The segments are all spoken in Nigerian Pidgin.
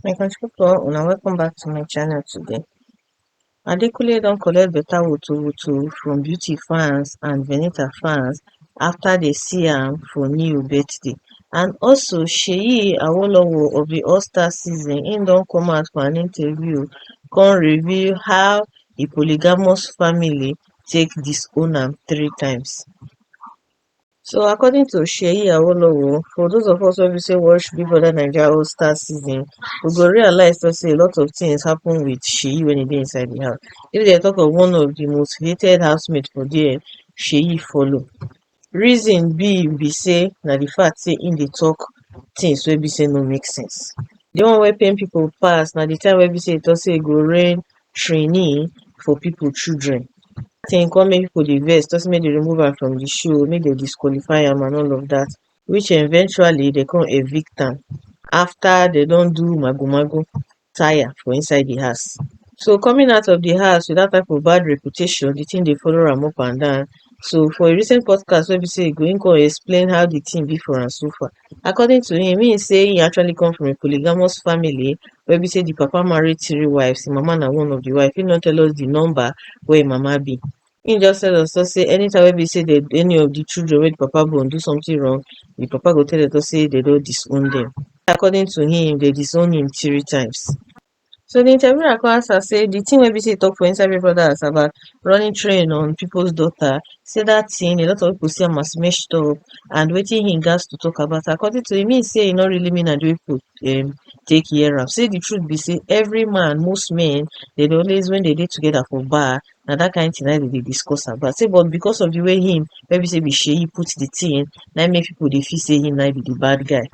my country people una welcome back to my channel today adekunle don collect better woto woto from beauty fans and venita fans after they see am for new birthday and also seyi awolowo of the all star season im don come out for an interview come reveal how the polygamous family take disown am three times. So according to Seyi Awolowo, for those of us wey be say watch Big Brother Naija All Star season, we go realize to say a lot of things happen with Seyi when he dey inside the house. If they talk of one of the most hated housemates for there, Seyi follow. reason be be say na the fact say him dey talk things wey be say no make sense. The one wey pain people pass na the time wey be say he talk say he go rain trainee for people children thing come make people dey vex talk say make dem remove am from the show make dem disqualify am and all of that which eventually they come evict am after they don do mago mago tire for inside di house. So coming out of di house with dat type of bad reputation, di tin dey follow am up and down. So for a recent podcast wey be say e go im come explain how di tin be for am so far. According to him, him say he actually come from a polygamous family wey be say di papa marry three wives, him mama na one of di wife. Him no tell us di number wey him mama be. Im just tell Oto say anytime wey be say dem any of di children wey di papa born do something wrong, di papa go tell Oto say dem don disown dem. According to him, dem disown him three times. So di interviewer come ask am say di thing wey be say you talk for inside Big Brother Naija about running train on people's daughter, say that thing a lot of people see am as messed up and wetin he gats to talk about am. According to him, he say e no really mean am the way people um take hear am. Say the truth be say every man, most men, dem dey always when dem dey together for bar, na that kind thing na im dem dey discuss about say but because of the way him wey be say be Seyi put the thing na im make people dey feel say him na im be the bad guy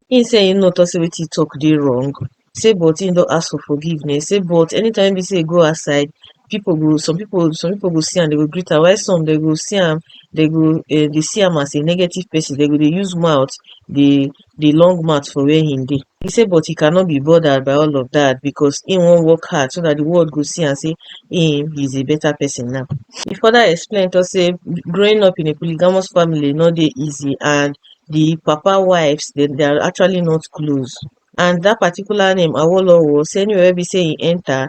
him say him no talk say wetin he talk dey wrong say but him don ask for forgiveness say but anytime wey be say he go outside people go some people some people go see am they go greet am while some they go see am they go um dey see am as a negative person they go dey use mouth dey di long mat for where hin dey he say but he cannot be bothered by all of that because he wan work hard so that the world go see am say him is a better person now he further explain talk say growing up in a polygamous family no dey easy and the papa wives they, they are actually not close and that particular name awolowo say anywhere wey be say he enter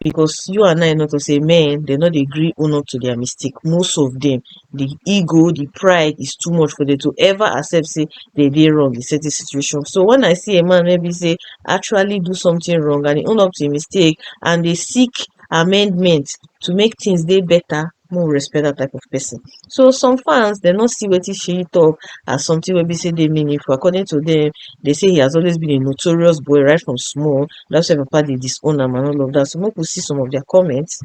because you and I know to say men they no dey gree own up to their mistake most of them the ego the pride is too much for them to ever accept say they dey wrong in certain situation so when I see a man wey be say actually do something wrong and he own up to him mistake and they seek amendment to make things dey better make we respect dat type of person. So some fans dem no see wetin Seyi talk as something wey be say dey meaningful according to dem dey say he has always been a notorious boy right from small that's why papa dey disown am and all of that so make we see some of their comments.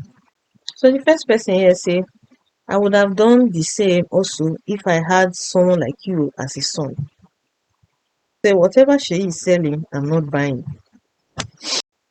So the first person here say I would have done the same also if I had someone like you as a son. Say whatever Seyi is selling I'm not buying.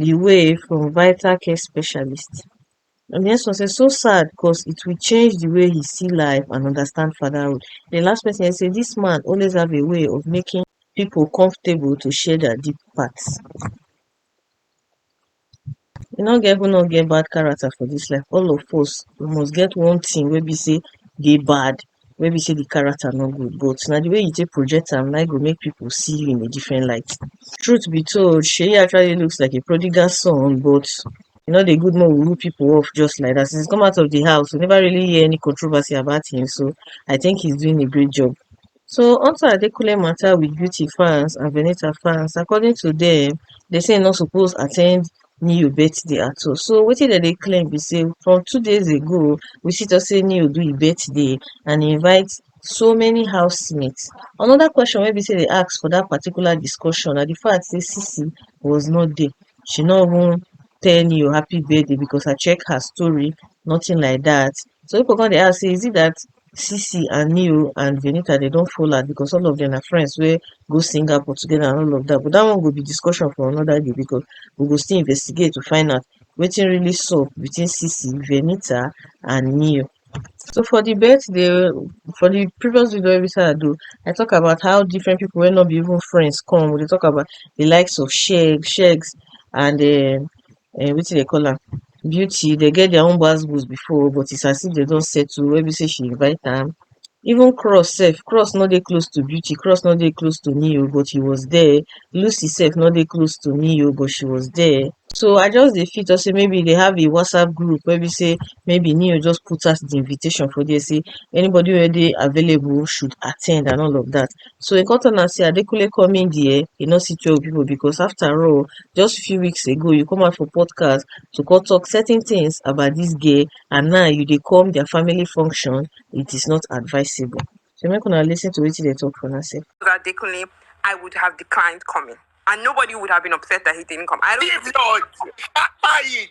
di way from vital care specialist and dis one sef so sad cause it will change di way he see life and understand fatherhood. Di last person he say dis man always have a way of making people comfortable to share their deep part. E no get who no get bad character for dis life all of us we must get one thing wey be say dey bad wey be sey di character no good but na di way you take project am na im go make people see you in a different light. Truth be told Seyi actually looks like a prodigal son but e no dey good make we rip people off just like dat, since he come out of di house we never really hear any controversy about him so I think he's doing a great job. So on to Adekunle matter with beauty fans and Venita fans according to dem, dem say he no suppose attend Niu birthday at all. So wetin dem dey claim be say from two days ago, we see to say Niu do e birthday and e invite so many housemates. Another question wey be say they ask for that particular discussion na the fact say Sisi was not there. She no even tell Niu happy birthday because I check her story, nothing like that. So people come dey ask say is it that Sisi and me o and Venita they don't fall out because all of them are friends wey go Singapore together and all of that. But that one go be discussion for another day because we go still investigate to find out wetin really sup between Sisi, Venita and Neo. So for the birthday, for the previous video every time I do, I talk about how different people wey not be even friends come. We dey talk about the likes of Sheg, Shegs and um, um wetin dem call am beauty dem get their own gbas gbos before but it's as if dem don settle wey be say she invite am even cross sef cross no dey close to beauty cross no dey close to me o but he was there lucy sef no dey close to me o but she was there so i just dey feel talk say maybe they have a whatsapp group wey be say maybe neo just put out the invitation for there say anybody wey dey available should attend and all of that so e come tell am say adekunle come in dia e no see twelve pipu becos afta all just few weeks ago you come out for podcast to come tok certain tins about dis girl and now you dey come dia family function it is not advisable so make una lis ten to wetin dem tok for una sef. Adekunle, I would have declined coming. And nobody would have been upset that he didn't come. I don't Leave Lord. Papa it.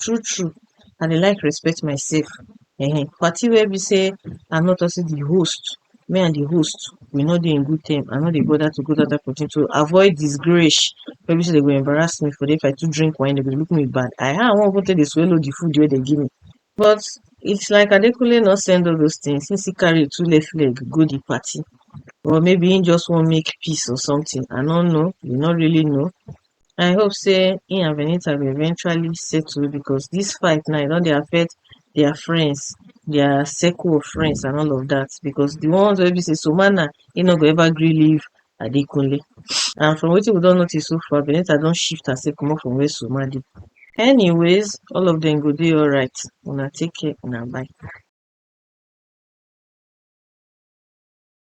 true true i dey like respect myself um party where be say i no talk say the host me and the host we no dey in good term i no dey bother to go that type of thing to avoid disgrace where be say they go embarrass me for there if i too drink wine they go dey look me with bad eye how i wan even take dey swallow the food wey they give me but it's like adekunle no send all those things since he carry two left leg go the party or maybe he just wan make peace or something i no know we no really know I hope say him and Venita go eventually settle because this fight now e don dey affect their friends, their circle of friends and all of that because the ones wey be say Sumana he no go ever gree leave Adekunle and from wetin we don notice so far Venita don shift herself comot from where Suma dey. Anyways all of them go dey alright una take care una bye.